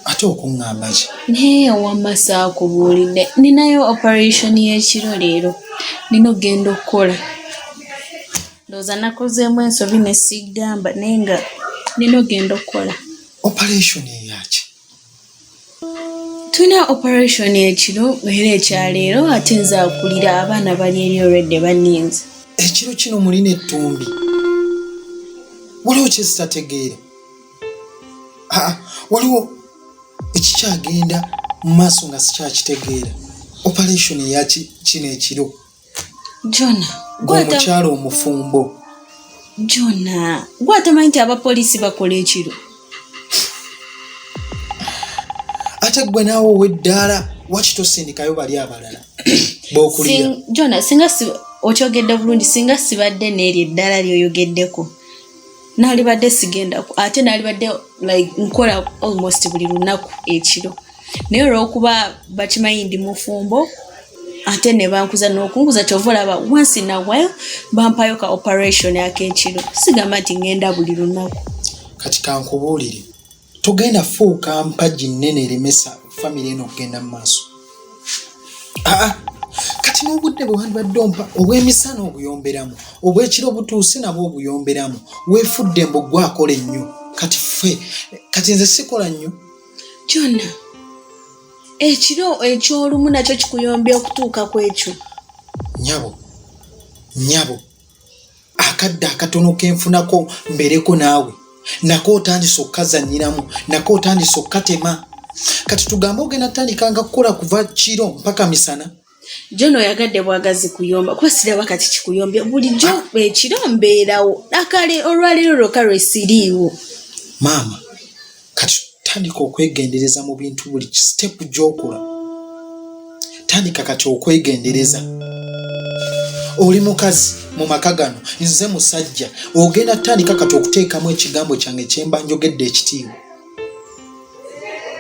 ate okuŋŋamba ki naye wamma saakubuulidde ninayo operation y'ekiro leero nina okugenda okukola ndowooza nakozeemu ensobi ne sigamba naye nga nina okugenda okukola operation eyaki tulina operation ekiro era ekyaleero ate nze akulira abaana bali eri olwedde baninze ekiro kino mulina ettumbi waliwo kyezitategeera aa waliwo ekikyagenda mu maaso nga sikyakitegeera operation eya ki- kino ekiro jona gwomukyala omufumbo jona gwe atamanyi nti abapoliisi bakola ekiro ate gwe naawe oweddaala waki tosindikayo bali abalala bokulira Sing- jona singa si- okyogedde bulungi singa sibadde n'eryo eddala lyoyogeddeko naalibadde sigendaku ate naalibadde like nkola almost buli lunaku ekiro naye olwokuba bakimanyi ndi mufumbo ate nebankuza nokunkuza kyova olaba once in a while bampayo ka operation akekiro sigamba nti ngenda buli lunaku kati kankubuulire togenda fuuka mpagi nnene eremesa famire eno okugenda mu maaso aa kati n'obudde bwe wandibadde ompa obw'emisana obuyomberamu obw'ekiro butuuse nabwo obuyomberamu weefudde mbu gwakola ennyo kati ffe kati nze sikola nnyo kyonna ekiro eky'olumu nakyo kikuyombya okutuuka ku ekyo nyabo nyabo akadde akatono kenfunako mbereko naawe nako otandise okukazanyiramu nako otandise okukatema kati tugambe ogenda tutandika nga kukola kuva kiro mpaka misana jona oyagadde bwagazi kuyomba kuba siraba kati kikuyombe bulijjo ekiro mbeerawo akale olwaleero lwoka lwesiriiwo maama kati tandika okwegendereza mu bintu buli sitepu gyokola tandika kati okwegendereza oli mukazi mu maka gano nze musajja ogenda tandika kati okuteekamu ekigambo kyange kyemba njogedde ekitiibwa